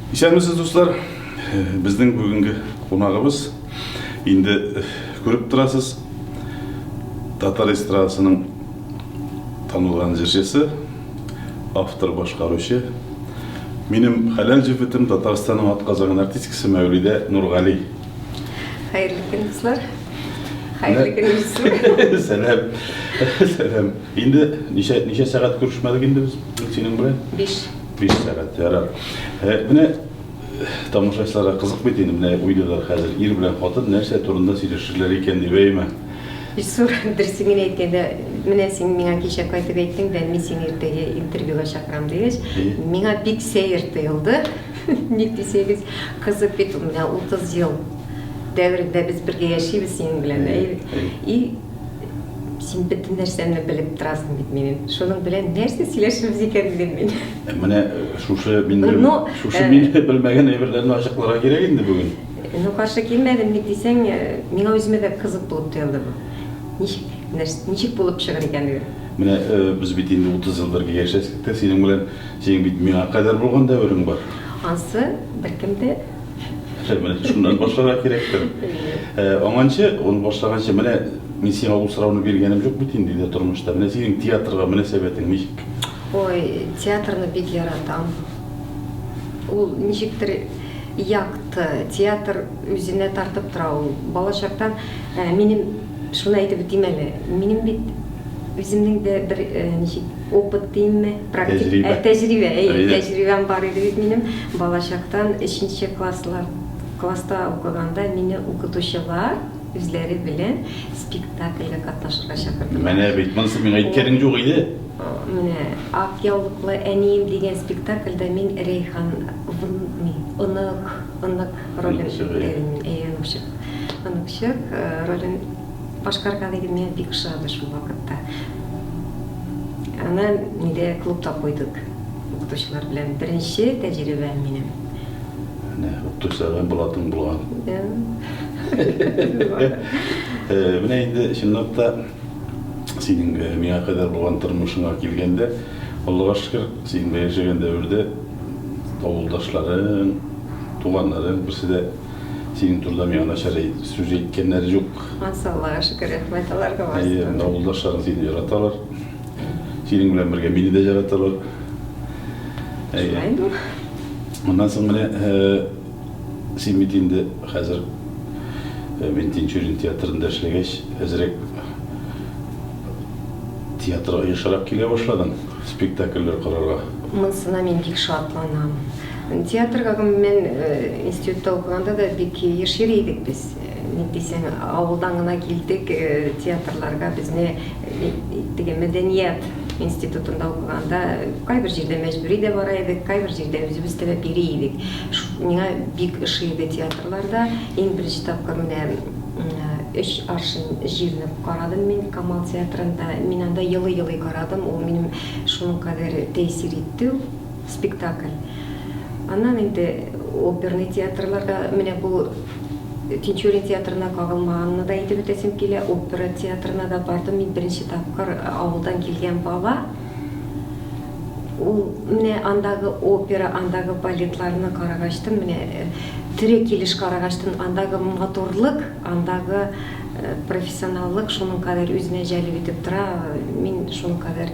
Исәнмесез, дуслар! Безнең бүгенге кунагыбыз инде күреп торасыз, татар эстрадасының танылган җырчысы, автор, башкаручы. Минем хәләл җефетем Татарстанның атказанган артисткасы Мәүлидә Нургали. Хәерле көн, дуслар. Хәерле көн, Илсур. Сәлам. Сәлам. Инде ничә ничә сәгать күрешмәдек инде без синең белән? Биш. Биш сәгать, ярар. Ә, менә тамашачыларга кызык бит инде, менә уйлыйлар хәзер, ир белән хатын нәрсә турында сөйләшерләр икән дип, әйеме? Илсур, дөресен генә әйткәндә, менә син миңа кичә кайтып әйттең дә, мин сине иртәгә интервьюга чакырам дигәч, миңа бик сәер тоелды. Ник дисәгез, кызык бит, менә 30 ел дәверендә без бергә яшибез синең белән, әйе бит? И Син бөтен нәрсәне белеп торасың бит минем. Шуның белән нәрсә сөйләшәбез икән дидем мин. Э, менә э, шушы мин ну, шушы э, мин белмәгән әйберләрне ачыкларга кирәк инде бүген. Ну, каршы килмәдем ник дисәң, миңа үземә дә кызык булып тоелды бу. Ничек, ничек булып чыгыр икәнлеге? Менә без бит инде 30 ел бергә яшәдек тә, синең белән синең бит миңа кадәр булган дәверең бар. Ансы беркем дә Хәмәт шуннан башларга кирәктер. Э, Аңанчы, ул башлаганчы менә мин сиңа ул сорауны биргәнем юк бит инде дә тормышта. Менә синең театрга мөнәсәбәтең ничек? Ой, театрны бик яратам. Ул ничектер якты, театр үзенә тартып тора ул. Балачактан ә, минем шуны әйтеп үтим әле. Минем бит үземнең дә бер ә, ничек Опыт димме, практик, Тәҗрибә. ә, тәҗрибә, әйе, Әйе. тәҗрибәм бар иде бит минем. Балачактан өченче класслар, класста укыганда мине укытучылар үзләре белән спектакльгә катнашырга чакырдылар. Менә бит, монысы миңа әйткәнең юк иде. Менә Ак яулыклы әнием дигән спектакльдә мин Рәйхан вн, ни, онык, онык ролен Оныкчык, әйе. үтәдем мин, әйе, оныкчык, оныкчык, э, ролен. Башкарга диген миңа бик ошады шул вакытта. Аны нидә клубта куйдык укытучылар белән. Беренче тәҗрибәм минем. Менә укытучыларга булатың булган. Менә инде чынлап та синең миңа кадәр булган тормышыңа килгәндә, Аллага шөкер, син яшәгән дәвердә авылдашларың, туганнарың берсе дә Синең турыда миңа начар сүз әйткәннәр юк. Маса Аллага шөкер, рәхмәт аларга барсы. Әйе, менә авылдашларың сине яраталар. Синең белән бергә мине дә яраталар. Әйе. Моннан соң менә син бит инде хәзер мин Тинчурин театрында эшләгәч, әзрәк театрга ешрак килә башладың, спектакльләр карарга. Монысына мин бик шатланам. Театрга гомум мен институтта укыганда да бик еш йөри идек без. Ник дисәң, авылдан гына килдек, театрларга безне теге мәдәният институтында укыганда кайбер җирдә мәҗбүри дә бара идек, кайбер җирдә үзебез теләп йөри идек. Миңа бик ошый иде театрларда. Иң беренче тапкыр менә өч аршин җирне карадым мин Камал театрында. Мин анда елый-елый карадым, ул минем шуның кадәр тәэсир итте ул. Спектакль. Аннан инде оперный театрларда, менә бу Тинчурин театрына кагылмаганны да әйтеп үтәсем килә, опера театрына да бардым мин беренче тапкыр, авылдан килгән бала. Ул менә андагы опера, андагы балетларны карагач тын, менә э, тере килеш карагач тын, андагы матурлык, андагы э, профессионаллык шуның кадәр үзенә җәлеп итеп тора, мин шуның кадәр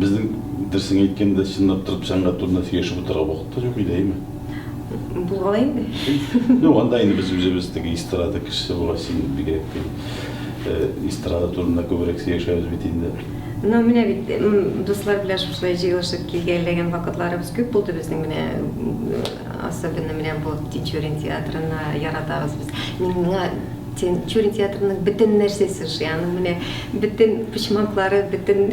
Безнең дөресен әйткәндә, чынлап торып сәнгать турында сөйләшеп утырырга вакыт та юк иде, әйме? Булган инде. Юк, анда инде без үзебез теге эстрада кешесе була, син бигрәк тә. Э, эстрада турында күбрәк сөйләшәбез бит инде. Ну, менә бит дуслар белән шушылай җыелышып килгәләгән вакытларыбыз күп булды безнең менә Особенно менә бу Тинчурин театрына яратабыз без. Миңа Тинчурин театрының бөтен нәрсәсе ошый. Аның менә бөтен почмаклары, бөтен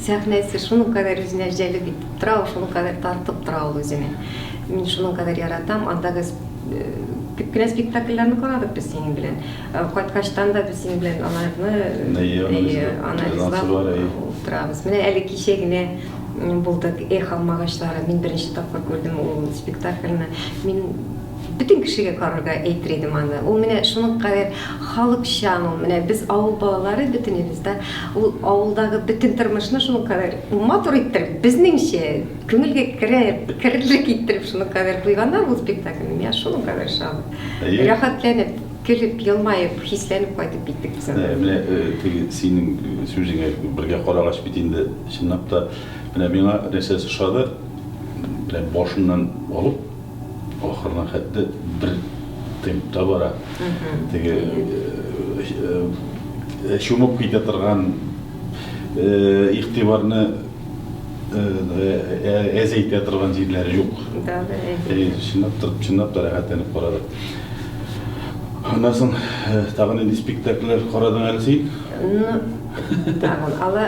сәхнәсе шуның кадәр үзенә җәлеп итеп тора, шуның кадәр тартып тора ул үзенә. Мин шуның кадәр яратам. Андагы э, күп кенә спектакльләрне карадык без синең белән. Э, кайткачтан да без синең белән аларны э, анализлап утырабыз. Менә әле кичә генә булдык. Эх, алмагачлары. Мин беренче тапкыр күрдем ул спектакльне. Мин бөтен кешегә карарга әйтер идем аны. Ул менә шуның кадәр халыкчан ул. Менә без авыл балалары бөтенебез дә ул авылдагы бөтен тормышны шуның кадәр матур иттереп, безнеңчә күңелгә керә, керерлек иттереп шуның кадәр куйганнар ул спектакльне. Миңа шуның кадәр ошаган. Рәхәтләнеп, көлеп, елмаеп, хисләнеп кайтып киттек без анда. Менә теге синең сүзеңә бергә карагач бит инде Чынлап та, менә миңа нәрсәсе ошады, менә башыннан алып, ахырына хәтле бер темп та бара. Теге чумып китә торган игътибарны әзәйтә торган җирләре юк. Да, да, әйе. Чынлап та, чынлап та рәхәтләнеп карадык. Аннан соң тагын нинди спектакльләр карадың әле син? Ну, Тагын ала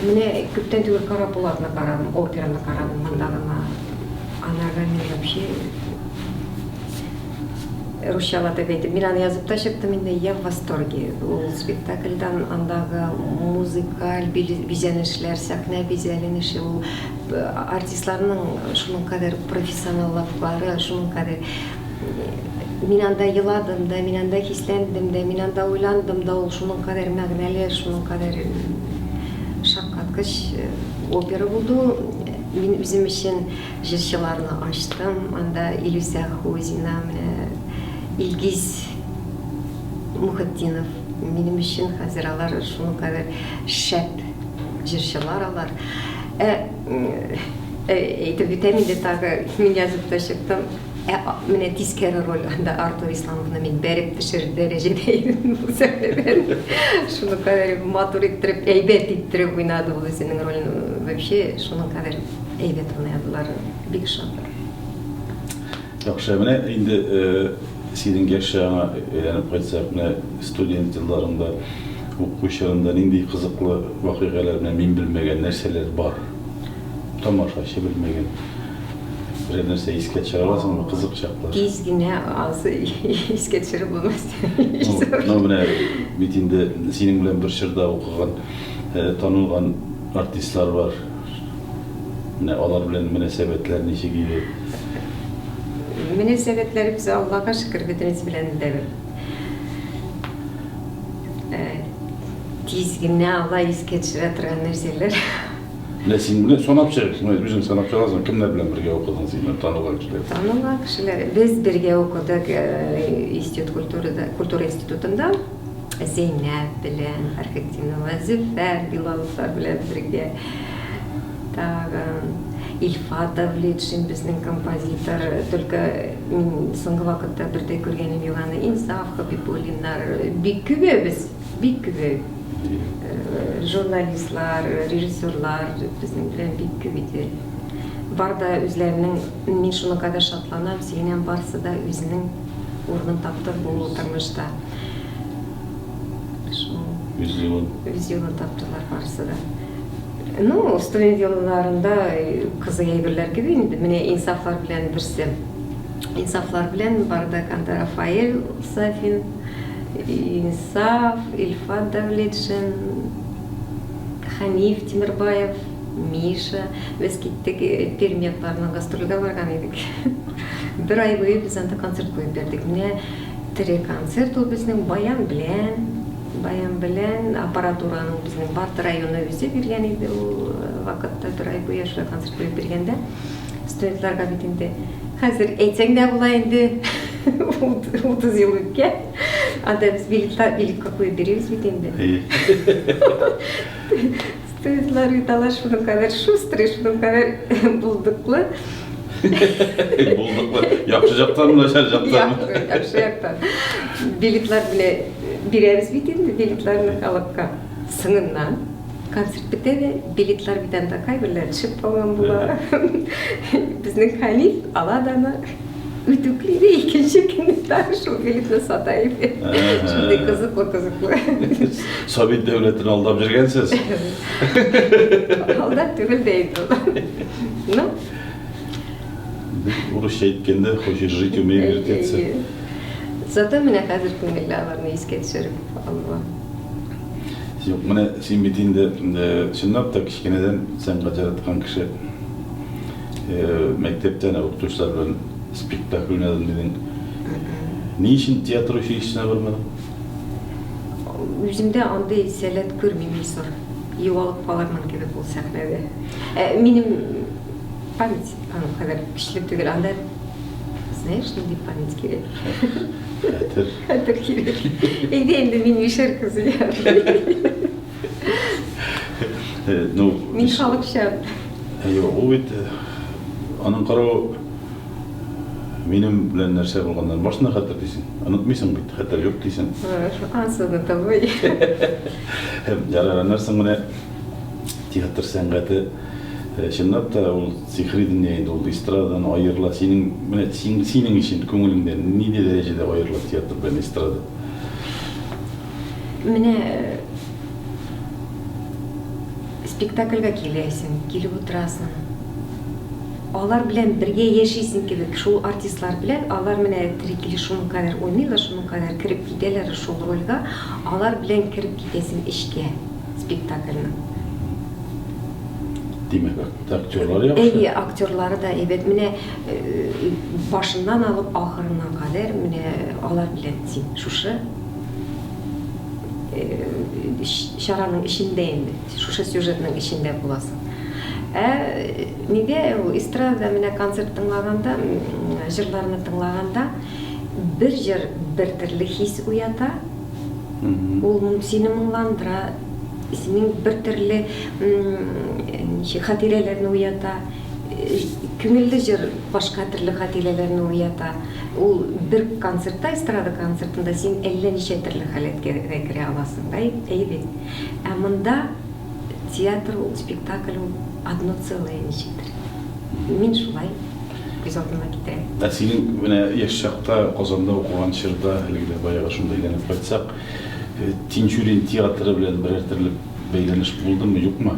менә күптән түгел Кара Булатны карадым, операны карадым монда гына. Анарга мин вообще русчалата әйтеп, мин аны язып та чыктым инде, я в восторге. Ул спектакльдан андагы музыкаль бизәнешләр, сәхнә бизәленеше, ул артистларның шуның кадәр профессионаллыклары, шуның кадәр Мин анда еладым да, мин анда хисләндем дә, мин анда уйландым да, ул шуның кадәр мәгънәле, шуның кадәр шаккаткыч опера булды ул. Мин үзем өчен җырчыларны ачтым, анда Илүсә Хузина, менә Илгиз Мухетдинов, минем өчен хәзер алар шуның кадәр шәп җырчылар алар. Ә, әйтеп бетәм инде тагы, мин язып та чыктым. Ә менә тискәре роль анда Артур Исламовны мин бәреп төшерер дәрәҗәдә идем бу сәхнәдән. Шуның кадәр матур иттереп, әйбәт иттереп уйнады ул үзенең ролен. Вообще, шуның кадәр әйбәт уйнадылар. Бик шатыр. Яхшы, менә инде синең яшь чагыңа әйләнеп кайтсак, менә студент елларыңда, уку чорында нинди кызыклы вакыйгалар, мин белмәгән нәрсәләр бар? Тамашачы белмәгән берәр нәрсә искә төшерә аласыңмы кызык чаклар? Тиз генә ансы искә төшереп булмас. Ну, менә бит инде синең белән бер чорда укыган, э, танылган артистлар бар. Менә алар белән мөнәсәбәтләр ничек иде? Мөнәсәбәтләребез Аллага шөкер бөтенесе белән дә бер. Э, тиз генә алай искә төшерә торган нәрсәләр. Менә син белән санап чыгыйк, менә үзең санап чыгасың, кемнәр белән бергә укыдың син белән танылган кешеләр? Танылган кешеләр. Без бергә укыдык э, институт культурада, культура институтында. Зәйнәп белән, Фәрхетдинова, Зөфәр Билаловлар белән бергә. Тагын Ильфат Давлетшин безнең композитор. Только мин соңгы вакытта бердә күргәнем юк аны. Инсаф Хабибуллиннар. Бик күбе без Бик гүзәл. Журналистлар, режиссерлар безнең белән бик күп иде. Бар да үзләренең, мин шуның кадәр шатланам, сөенәм, барсы да үзенең урынын тапты бу тормышта. Үз юлын. Үз юлын таптылар барысы да. Ну, студент елларында кызы әйберләр кебек инде, менә инсафлар белән берсе. Инсафлар белән Бардаканда Рафаэль Сафин, Инсаф, Илфат Давлетшин, Хәниф Тимербаев, Миша. Без киттек, э, Пермь якларына гастрольгә барган идек. Бер ай буе без анда концерт куеп бирдек. Менә тере концерт ул безнең баян белән, баян белән аппаратураның безнең Барты районы үзе биргән иде ул э, вакытта бер ай буе шулай концерт куеп биргәндә. студентларга бит инде хәзер әйтсәң дә була инде утыз ел үткән анда без билетка билетка куеп биребез бит инде студентлар бит алар шуның кадәр шустрый шуның кадәр булдыклы булдыклы яхшы жактан начар жактан яхшы жактан билетлар белән бирәбез бит инде билетларны халыкка Сыңыннан концерт бетә дә, билетлар бит анда кайберләре төшеп калган була. Безнең хәлиф ала да аны үтүкли дә икенче көнне тагы шул билетны сата иде. Шундый кызыклы кызыклы. Совет дәүләтен алдап йөргәнсез. Алдап түгел дә инде ул. Ну. Урысча әйткәндә, хочешь жить, умей вертеться. Зато менә хәзер күңелле аларны искә төшереп алуга. Юк, менә син бит инде чынлап та кечкенәдән сәнгать яраткан кеше. Мәктәптән укытучылар белән спектакль уйнадым дидең. Ни өчен театр училищесына бармадың? Үземдә андый сәләт күрмим, Илсур. Югалып калырмын кебек ул сәхнәдә. Ә, минем память аның кадәр көчле түгел. Анда, знаешь, нинди память кирәк. Хәтер. Хәтер кирәк. Әйдә инде мин мишәр кызы. Ну, мин халыкча. Юк, ул бит аның каравы минем белән нәрсә булганнан башына хәтер дисең. Онытмыйсың бит, хәтер юк дисең. Ансызны табый. Ярар, аннарсың менә театр сәнгате Чынлап та, ул сихри дөнья инде, ул эстрададан аерыла. Синең, менә син, синең өчен күңелеңдә нинди дәрәҗәдә аерыла театр белән эстрада? Менә спектакльгә киләсең, килеп утырасың. Алар белән бергә яшисең кебек, шул артистлар белән, алар менә тере килеш шуның кадәр уйныйлар, шуның кадәр кереп китәләр шул рольгә, алар белән кереп китәсең эчкә. спектакльнең. Димәк, актерлар яхшы? Әйе, актерлары да әйбәт. Менә э, башыннан алып ахырына кадәр менә алар белән син шушы э, чараның эчендә инде, шушы сюжетның эчендә буласың. Ә нигә ул эстрада менә концерт тыңлаганда, җырларны тыңлаганда бер җыр бер төрле хис уята, Ул сине моңландыра, синең бер төрле ничек хатирәләрне уята. Күңелле җыр башка төрле хатирәләрне уята. Ул бер концертта, эстрада концертында син әллә ничә төрле халәткә дә керә аласың, да, әйе бит? Ә монда театр ул, спектакль ул одно целое ничектер. Мин шулай. күз алдына китерә. Ә синең менә яшь чакта Казанда укыган чорда, әлеге дә баягы шунда әйләнеп кайтсак, Тинчурин театры белән берәр төрле бәйләнеш булдымы, юкмы?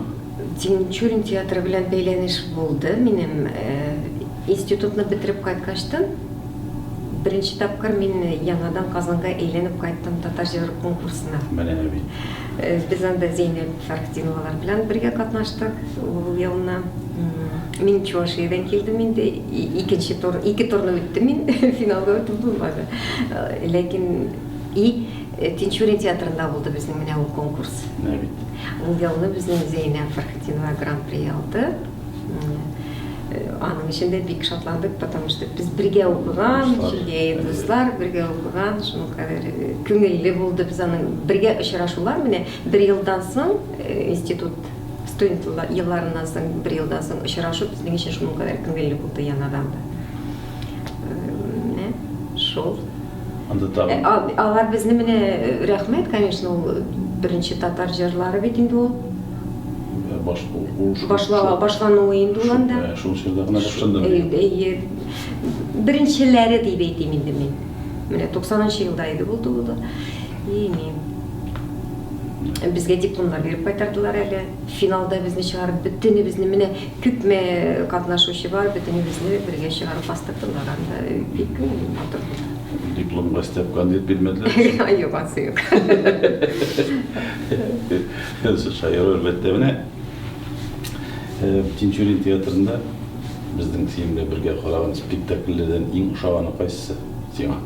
Тинчурин театры белән бәйләнеш булды. Минем институтны бетереп кайткачтын, беренче тапкыр мин яңадан Казанга әйләнеп кайттым татар җыры конкурсына. Менә бит. Без анда Зәйнәп Фәрхтиновалар белән бергә катнаштык ул елны. Мин Чувашиядән килдем инде, икенче тур, ике турны үттем мин, финалда үтеп булмады. Ләкин и э, Тинчурин театрында булды безнең менә ул конкурс. Ул елны безнең Зәйнәп Фәрхтинова гран-при алды. Аның өчен дә бик шатландык, потому что без бергә укыган, шулай дуслар, бергә укыган, шуның кадәр э, күңелле булды без аның бергә очрашулар менә бер елдан соң э, институт студент елларыннан соң бер елдан соң очрашу безнең өчен шуның кадәр күңелле булды яңадан да. Э, шул. Анда тагын. Алар безне менә рәхмәт, конечно, ул беренче татар җырлары бит инде ул. Ә баш кул кул шул. Башлава башлануы инде ул анда. Ә шул чорда гына башланды. Әйе. Беренчеләре дип әйтим инде мин. Менә 90 елда иде булды ул да. И мин. Безгә дипломнар биреп кайтардылар әле. Финалда безне чыгарып, бөтенебезне менә күпме катнашучы бар, бөтенебезне бергә чыгарып бастырдылар анда. Бик күңелле матур булды. Дипломга степкан дип бирмәделәр. Юк, асы юк. Фәнсез шаярыр мәктәбенә Тинчурин театрында безнең сиңа бергә караган спектакльләрдән иң ошаганы кайсысы сиңа?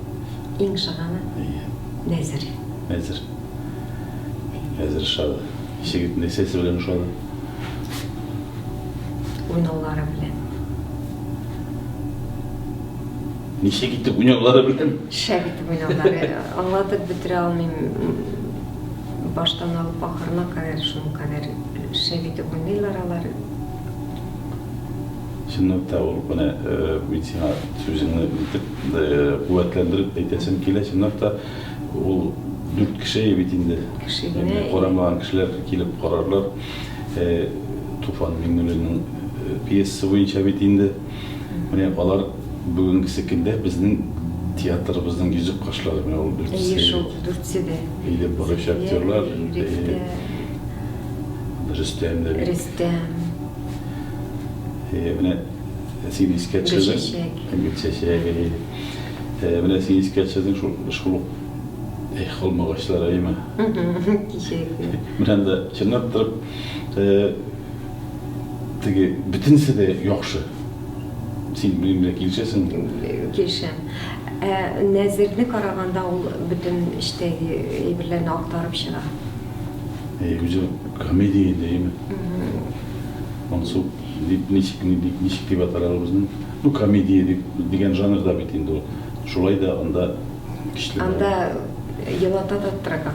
Иң ошаганы? Әйе. Нәзер. Нәзер. Нәзер ошады. Ничек нәрсәсе белән ошады? Уйнаулары белән. Ничек итеп уйнаулары белән? Шәп итеп уйнаулары. Аңлатып бетерә алмыйм. Баштан алып ахырына кадәр шул кадәр шәп итеп уйныйлар алар. Чынлап та ул, менә мин сиңа сүзеңне нитеп, куәтләндереп әйтәсем килә, чынлап та ул дүрт кешее бит инде. Кеше генә. Инде карамаган кешеләр килеп карарлар. Туфан Миңнуллинның пьесасы буенча бит инде. Менә алар бүгенгесе көндә безнең театрыбызның йөзек кашлары. Менә ул дүртесе. Әйе шул, дүртесе дә. Әйдәп баручы актерлар. Рифтә. Рөстәм дә бит. Рөстәм. Әйе, менә син искә төшердең. Гөлчәчәк. Гөлчәчәк, әйе. Менә син искә төшердең шул, шул ук Эх, алмагачлар, әйеме? Кичәге. Менә анда чынлап торып. Э, теге бөтенесе дә яхшы. Син минем белән килешәсеңме? Килешәм. Ә Нәзерне караганда ул бөтен эчтәге әйберләрне актарып чыга. Әй, үзе комедия инде, әйме? Монсу дип ничек ни- ни- ничек дип атар ул безнең? Ну, комедия дип дигән жанрда бит инде ул. Шулай да анда көчле. Анда елата да торган.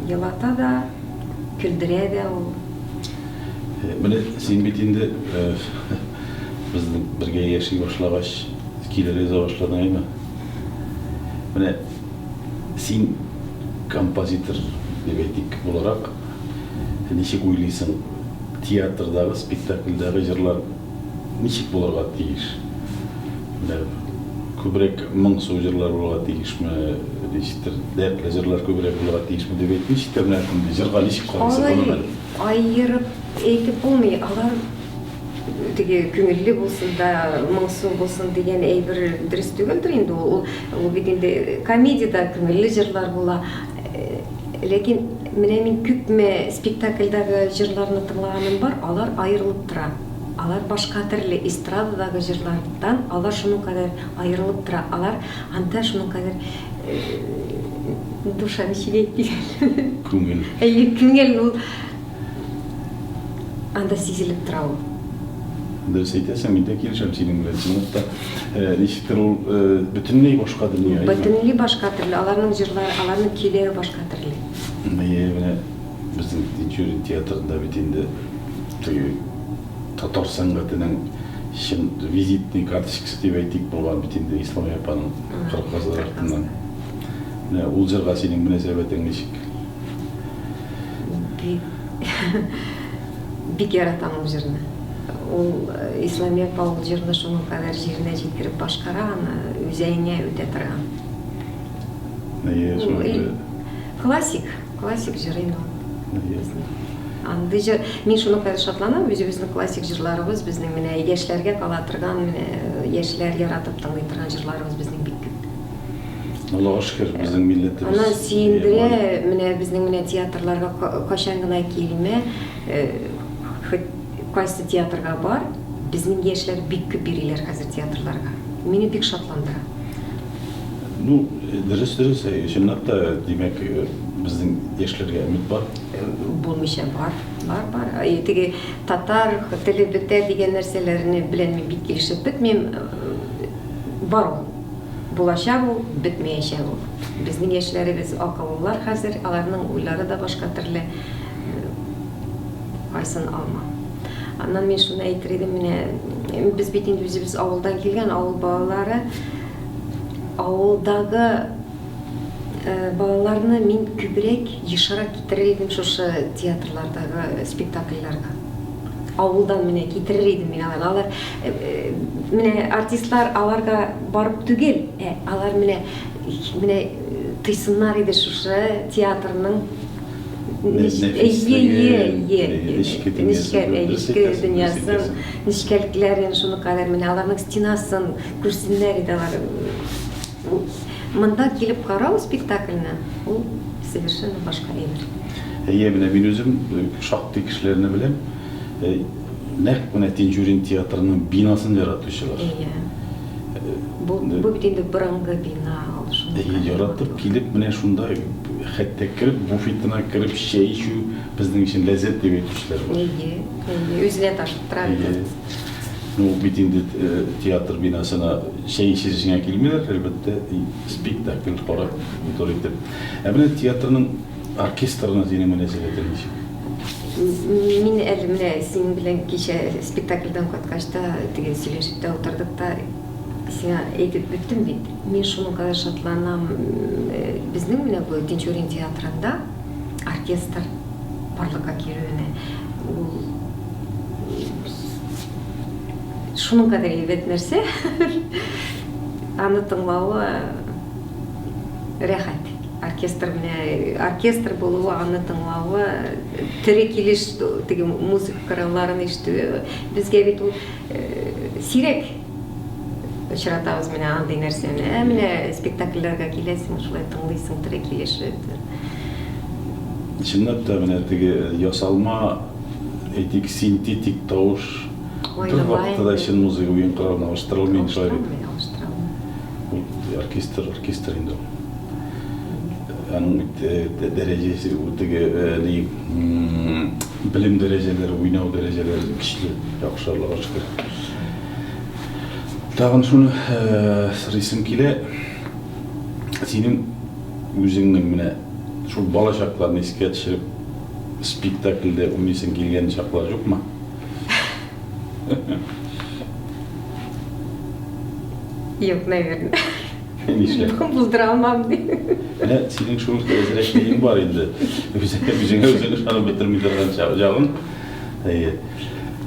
Елата да Көлдерә дә ул. Менә син бит инде без бергә яши башлагач, килергә яза башладың әйме? Менә син композитор дип әйтик буларак, ничек уйлыйсың, театрдагы спектакльдәге җырлар ничек булырга тиеш? Менә күбрәк моңсу җырлар булырга тиешме, ничектер, дәртле җырлар күбрәк булырга тиешме дип әйтми, читтә менә шундый җырга ничек карыйсыз, гомумән? Алай аерып әйтеп булмый, алар теге күңелле булсын да, моңсу булсын дигән әйбер дөрес түгелдер инде ул. Ул бит инде комедиядә күңелле җырлар була. Ләкин менә мин күпме спектакльдәге җырларны тыңлаганым бар, алар аерылып тора. Алар башка төрле, эстрададагы җырлардан алар шуның кадәр аерылып тора. Алар анда шуның кадәр, душа, ничек әйтик әле? Күңел. Әйе, күңел ул. Анда сизелеп тора ул. Дөрес әйтәсең, мин дә килешәм синең белән. Чынлыкта, э, ничектер ул э, бөтенләй башка дөнья. әйе. Бөтенләй башка төрле. Аларның җырлары, аларның көйләре башка төрле. Әйе, менә безнең Тинчурин театрында бит инде теге татар сәнгатенең чын визитный карточкасы дип әйтик булган бит инде Исламия апаның Кыркказлар артыннан. Менә ул җырга синең мөнәсәбәтең ничек? Бик яратам ул җырны. Ул Исламия апа ул җырны шуның кадәр җиренә җиткереп башкара аны, үзәеңә үтә торган. Классик, классик җыр инде ул. Андый җыр, мин шуның кадәр шатланам, үзебезнең классик җырларыбыз, безнең менә яшьләргә кала торган, менә яшьләр яратып тыңлый торган җырларыбыз безнең бик күп. Аллага шөкер, безнең милләтебез. Ана сөендерә, менә безнең менә театрларга кайчан гына килмә, хоть кайсы театрга бар, безнең яшьләр бик күп йөриләр хәзер театрларга. Мине бик шатландыра. Ну, дөрес, дөрес, чынлап та, димәк, безнең яшьләргә өмет бар. Булмыйча бар, бар, бар. Теге татар теле бетә дигән нәрсәләрне белән мин бик килешеп бетмим. Бар ул. булачак ул, бетмәячәк ул. Безнең яшьләребез акыллылар хәзер, аларның уйлары да башка төрле, кайсын алма. Аннан мин шуны әйтер идем, менә без бит инде үзебез авылдан килгән, авыл балалары, авылдагы э, балаларны мин күбрәк ешрак китерер идем шушы театрлардагы спектакльләргә. авылдан менә китерер идем мин аларны. Алар э, э, менә артистлар аларга барып түгел, ә алар менә менә э, тыйсыннар иде шушы театрның дөньясын, нечкәлекләрен, шуны кадәр менә аларның стенасын күрсеннәр иде алар. Бу монда килеп карау спектакльне, ул совершенно башка әйбер. Әйе, менә мин үзем шактый кешеләрне беләм, нәкъ менә Тинчурин театрының бинасын яратучылар. Әйе. Бу бит инде борынгы бина, ул шундый. Әйе, яратып килеп, менә шунда хәтта кереп, буфетына кереп чәй эчү безнең өчен ләззәт дип әйтүчеләр бар. Әйе, әйе, үзенә ташыттыра бит. Ул бит инде театр бинасына чәй эчешеңә килмиләр, әлбәттә, спектакль карап утыр итеп. Ә менә театрның оркестрына синең мөнәсәбәтең ничек? Мин әле менә синең белән кичә спектакльдән кайткач та, теге сөйләшеп тә утырдык та, сиңа әйтеп беттем бит. Мин шуның кадәр шатланам. Безнең менә бу Тинчурин театрында оркестр барлыкка килүенә. Ул Шуның кадәр әйбәт нәрсә. Аны тыңлавы рәхәт. Оркестр белән э, оркестр булуы, аны тыңлавы, тере килеш теге музыка коралларын ишетүе безгә бит ул э, сирәк. очратабыз менә андый нәрсәне. Ә менә спектакльләргә киләсең, шулай тыңлыйсың тере килеш. Чынлап та менә теге ясалма, әйтик, синтетик тавыш бер вакытта да чын музыка уен коралына алыштырылмый инде шулай бит. Алыштыралар. Оркестр, оркестр инде ул. Аның бит дәрәҗәсе, теге, ни, Белем дәрәҗәләре, уйнау дәрәҗәләре көчле, яхшы, Аллага шөкер. Тагын шуны сорыйсым килә. Синең үзеңнең менә шул бала чакларны искә төшереп, спектакльдә уйныйсың килгән чаклар юкмы? Юк, наверное. Нишләп? Булдыра алмам ди. Менә синең шул әзрәк биең бар инде. Үзеңә үзеңә үзең ышанып бетерми торган чагың. Әйе.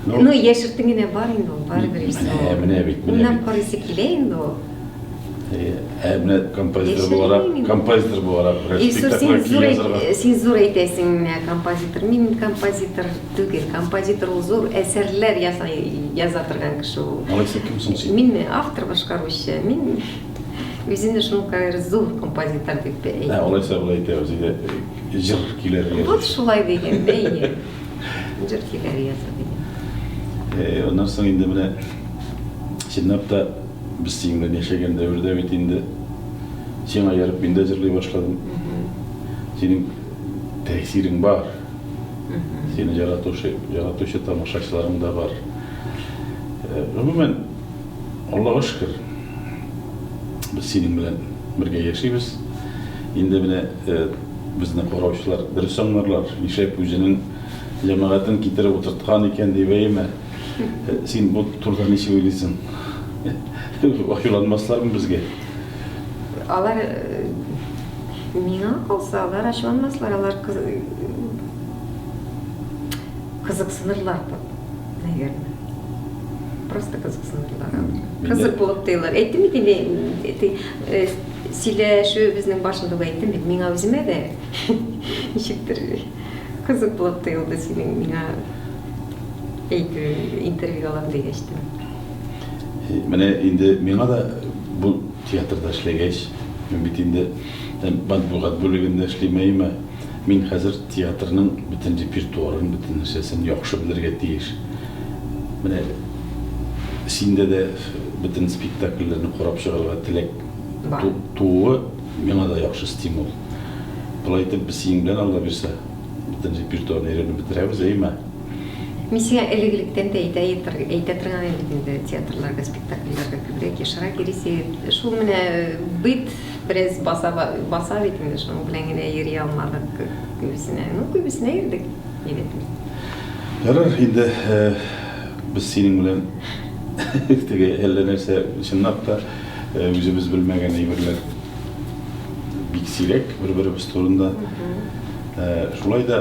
Ну, ну яшертен генә бар инде ул, барыбер исе. Менә, менә бит, менә. Уйнап карыйсы килә инде ул. Ә менә композитор буларак, композитор буларак, спектакль килә. Син зур әйтәсең, композитор, мин композитор. Түгел, композитор ул зур әсәрләр ясый, яза торган кеше ул. Алай син кем соң син? Минме? Автор башкаручы. Мин үземне шуңа кадәр зур композитор дип Ә әйтәм. алайса болай әйтәбез, әйдә, э, җыр көйләр Вот язучы. шулай дигән, бәйге. Җыр көйләре яза дигән. Э, Аннан соң инде менә чынлап та без синең белән яшәгән дәвердә бит инде сиңа ярып мин дә җырлый башладым. Синең тәэсирең бар. Сине яратучы, яратучы тамашачыларың да бар. Э, гомумән, Аллага шөкер, без синең белән бергә яшибез. Инде менә э, безне караучылар дөрес аңларлар, ишәк үзенең җәмәгатен китереп утырткан икән дип әйме. Э, син бу турыда ни сөйлисең? Ачуланмаслармы безгә? Алар Миңа калса, алар ачуланмаслар, алар кызыксынырлар да, наверное. Просто кызыксынырлар. Кызык булып тоелар. Әйттем бит инде, э, сөйләшүебезнең башында да әйттем бит, миңа үземә дә ничектер кызык булып тоелды синең миңа әйтүең, интервью алам дигәч тә. Э, менә инде миңа да бу театрда эшләгәч, мин бит инде э, матбугат бүлегендә эшлим, әйеме? Мин хәзер театрның бөтен репертуарын, бөтен нәрсәсен яхшы белергә тиеш. Менә синдә дә бөтен спектакльләрне карап чыгарга теләк тууы миңа да яхшы стимул. Болай итеп без синең белән Алла бирсә, бөтен репертуарны өйрәнеп бетерәбез, әйеме? Мин сиңа элек-электән дә әйтә әйтә торган идем бит инде, театрларга, спектакльләргә күбрәк ешрак йөрисең. Шул менә бит бераз баса баса бит инде, шуның белән генә йөри алмадык күбесенә. Ну, күбесенә йөрдек, әйбәтмени. Ярар, инде без синең белән теге әллә нәрсә чынлап та үзебез белмәгән әйберләр бик сирәк бер-беребез турында. Шулай да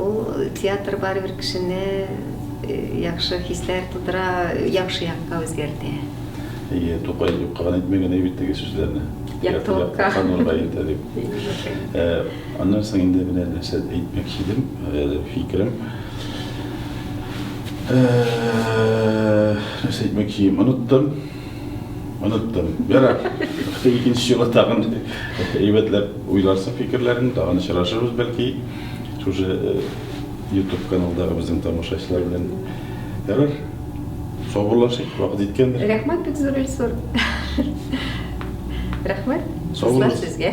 Ул театр барыбер кешене яхшы хисләр тудыра, яхшы якка үзгәртә. Әйе, Тукай юкка гына әйтми генә бит теге сүзләрне. Яктылыкка. Яктылыкка, нурга илтә дип. Аннан соң инде менә нәрсә әйтмәкче идем, фикерем. Нәрсә әйтмәкче идем, оныттым. Оныттым. Ярар. Икенче юлы тагын әйбәтләп уйларсың фикерләрен, тагын очрашырбыз бәлки. шушы ютуб каналдагы безнең тамашачылар белән ярар саубуллашыйк вакыт җиткәндер рәхмәт бик зур режиссер рәхмәт сау сезгә